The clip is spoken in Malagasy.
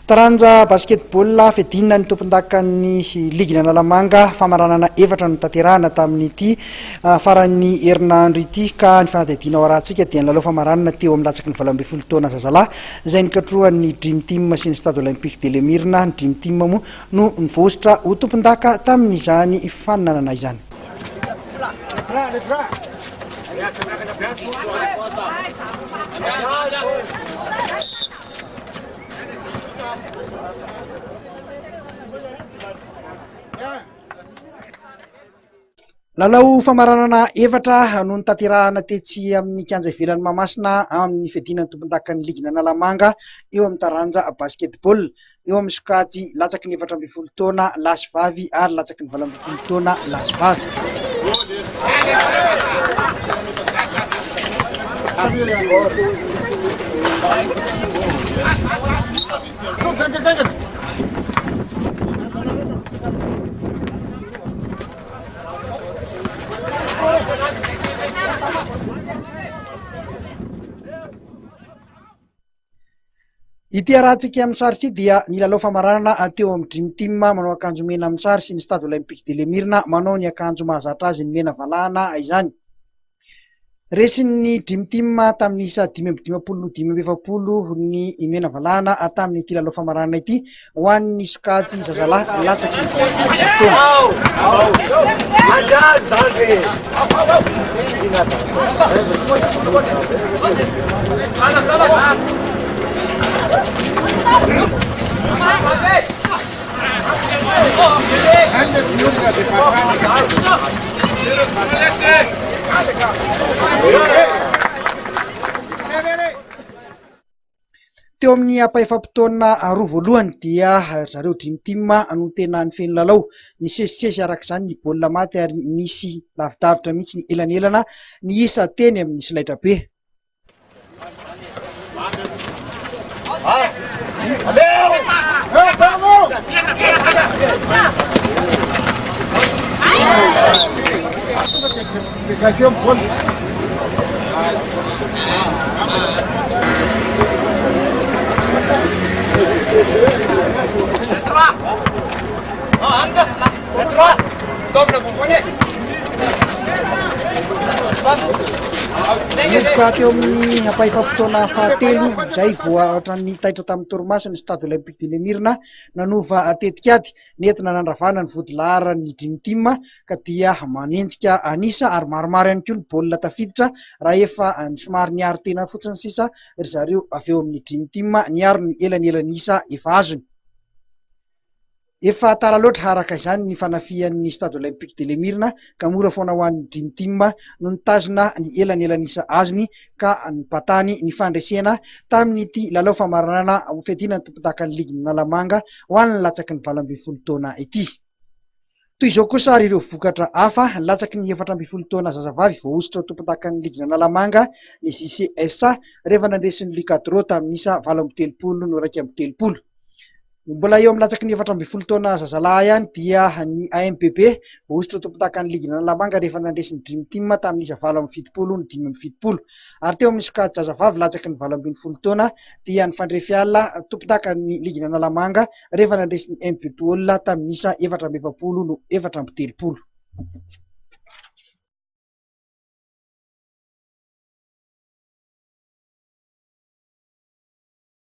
Taranja basketball fedina ny tompondakan'ny ligin' Analamanga. Famaranana efatra no notanterahana tamin'ity faran'ny herinandro ity ka ny fanadihadiana ao Arahantsika dia ny lalao famaranana teo amin'ny latsaky ny valo ambin'ny folo taona zazalahy izay nikatrohan'ny Dream Team sy ny Stade Olympique de Lemirna. Ny Dream Team moa no nivosotra ho tompondaka tamin'izany fananana izany. Lalao famaranana efatra no notanterahana tetsy amin'ny kianja ivelan'i Mahamasina amin'ny fiadiana ny tompondakan'ny ligin'Analamanga eo amin'ny taranja basketball. eo amin'ny sokajy latsaky ny efatra ambin'ny folo taona lahy sy vavy ary latsaky ny valo ambin'ny folo taona lahy sy vavy. Ity harahantsika amin'ny sary ity dia ny lalao famaranana teo amin'ny Dream Team manao akanjo mena amin'ny sary sy ny Stade Olympique de Lemirina manao ny akanjo mahazatra azy ny mena valahana izany. Resin'ny Dream Team tamin'ny isa dimy amby dimampolo no dimy amby efapolo ny mena valahana tamin'ity lalao famaranana ity. ho an'ny sokajy zazalahy latsaky ny taona. Teo amin'ny ampahaefam-potoana roa voalohany dia ry zareo Dream Team no tena nifehy ny lalao. Nisesisesy araka izany ny baolina maty ary nisy lavidavitra mihitsy ny elanelana niisa teny amin'ny solaitrabe. Nanomboka teo amin'ny ampahefam-potoana fahatelo izay vao ohatran'ny taitra tamin'ny torimaso ny Stade Olympique de Lemirina nanova tetikady. nentina nandravana ny vodilaharan'ny Dream Team ka dia manenjika an'isa ary maromaro ihany koa ny baolina tafiditra raha efa somary niaro tena fotsiny sisa ry zareo avy eo amin'ny Dream Team niaro ny elanelan'isa efa azony. Efa tara loatra araka izany ny fanafihan'ny Stade Olympique de l'Emirna. ka mora foana ho an'ny Dream Team no nitazona ny elanelan'isa azony ka nipatany ny fandresena tamin'ity lalao famaranana ho fiadiana ny tompondakan'ny ligin'ny Analamanga ho an'ny latsaky ny valo ambin'ny folo taona ity. Toy izao kosa ary ireo vokatra hafa, latsaky ny efatra ambin'ny folo taona zazavavy voahosotra ho tompondakan'ny ligin'ny Analamanga ny JCSA rehefa nandresy ny Lucadro tamin'isa valo amby telopolo no iraika amby telopolo. Mbola eo amin'ny latsaky ny efatra ambin'ny folo taona zazalahy ihany dia ny AMPB hosotra tompondakan'ny liginà Analamanga rehefa nandresy ny Dream Team tamin'isa valo amby fitopolo ny dimy amby fitopolo. Ary teo amin'ny sokajazavavy latsaky ny valo ambin'ny folo taona dia nifandre fiala tompondakan'ny liginà Analamanga rehefa nandresy ny Mbpol tamin'isa efatra amby efapolo no efatra amby telopolo.